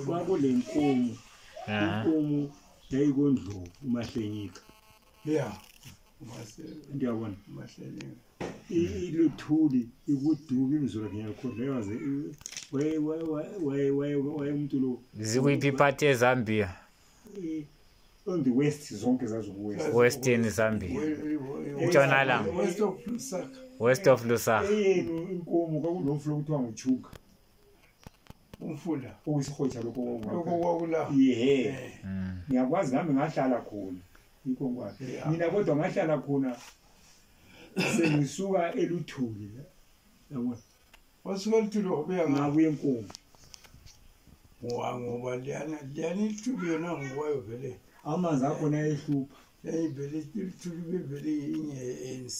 kwakule nkomo inkomo yayikondlovu umahlenyika ya ndiyabona iluthuli ikudubi imzulu lakhe ngiyakhohlekaze wayemntu lo zikwiphi iphathi ezambia on the west zonke zaziwestern zambia intshonalanga west of lusaka inkomo kwakunomfula okuthiwa nguchuga umfula okuyisihotsha lokho lokho kwakula yehe eh. mm. ngiyakwazi nami ngahlala khona yikho kwathi mina kodwa ngahlala khona sengisuka eluthuli yabona wasuka eluthuli wabuya ngabuya enkomo ngoba ngoba liyana liyana iluthuli yona ngokwayo vele amanzi akhona ehlupha yayivele iluthuli bevele inye ye-anc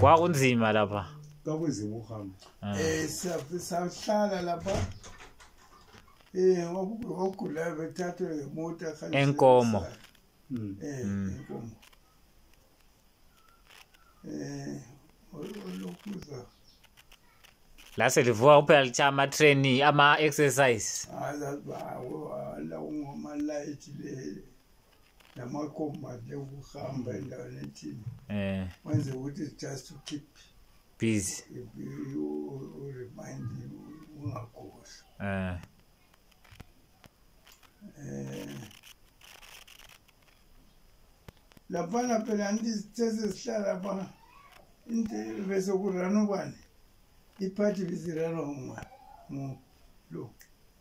kwakunzima lapha kwakunzima ukuhamba um eh, sahlala lapha um ogulayo bethathwe ngemota enkomo hmm. eh, hmm. enkomo um olokuza lase livuka kuphela litha ama-traini ama-exercise ah, ah, ah, namakomadi okuhamba endaweni ethini um wenze ukuthi just to keep busy uremind ungagosi um eh. um laphana phela ndizithese zihlala pha besokurana ubani iphathi bizirana uma mu lo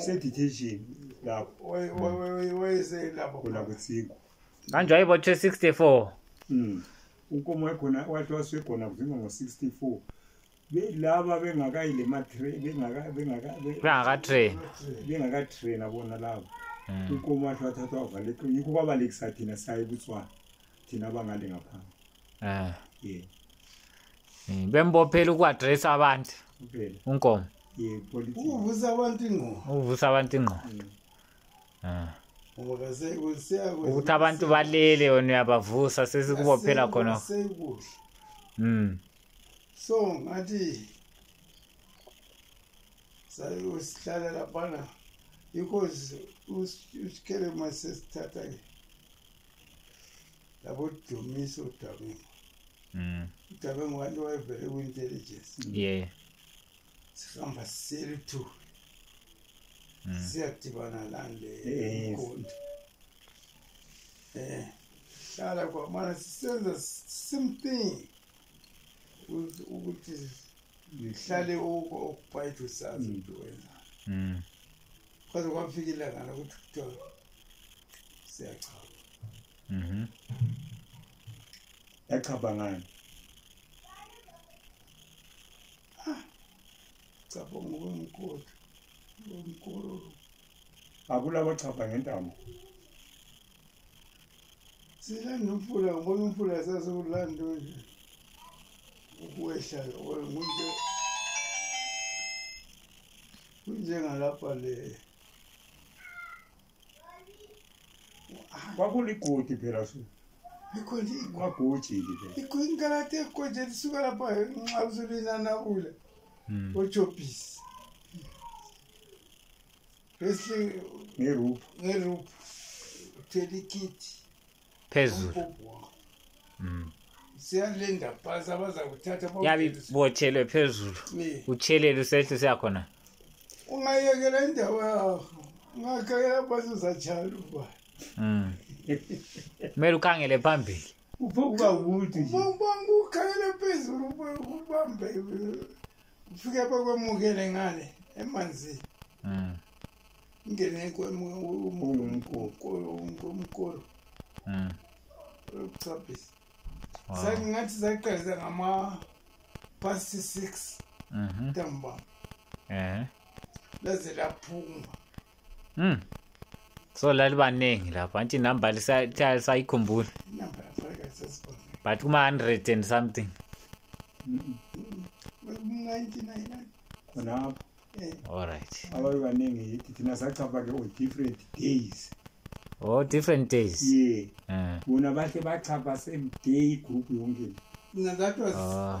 seditation lapho kutsiku kanjwa ibotshwe 64 mm ukomo wakhona wathi waswegona kuzinga ngo-64 laba bengakayi le bengakatrain bengakatraina bona laba hmm. ukomo wathi wathathwa wavaleka yikho kwabalekisa thina saye kutswana thina abangale ngaphambi ah yeah eh, bembophela ukuaddress abantu kuphela unkomo yeah politics ukuvusa abantu ingqondo ukuvusa abantu ingqondo mm. ah ukuthi abantu balele yona uyabavusa sesikubophela khona mm so ngathi sayosihlala laphana because usikhele masesithatha-ke labo Dumisa uDabengu mm. uDabengu wanti wayevele kwi-intelligence yeah sihamba siseli two mm. siyadibana lani le inkonto eh hlala kwamana sisenza same thing ukuthi ngihlale okubhayithi usazi mm. into wenza mm. kwaze kwafika ilanga lokuthi kuthiwa siyachaba Mhm. yachaba ngani chaba ngokwemkoti ngomkololo akulabo chaba ngentambo silanda umfula ngibona umfula sasiwulanda nje ukuwehla ngomuntu kunjengalapha le kwakuligodi phela su kwagojiki phela ikwinkalati egoje lisuka lapha nxa usulinanabula hmm. ochopisi bese ngeruphu ngeruphu uthela ikhithi phezulu mm. siyalinda phansi abazakuthatha yabe botshelwe phezulu utshelele usehle siyakhona ungayekela indawo yakho ungakhangela phansi uzatshayela uba mm. kumele ukhangele phambili uphokuba kude nje ukhangele phezulu ubambe ndifike apha kwemukele ngale emanzini mm. ngene kwemkolo mm. lokuchaphisa sakungathi saqalisa ngama past six mhm. ntambama laze laphuma Hmm. So lalibaningi lapha anti number lisayikhumbula. Number but kuma 100 and something khonapho allright ababe baningi yithi thina sachapha ke different days oh different days ye eh. bona bahle bachapha same day group yonke that was ah.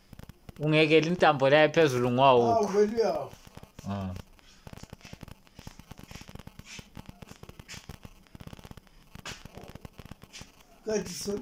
ungekeli intambo leyo phezulu ngwawukho ah. Good.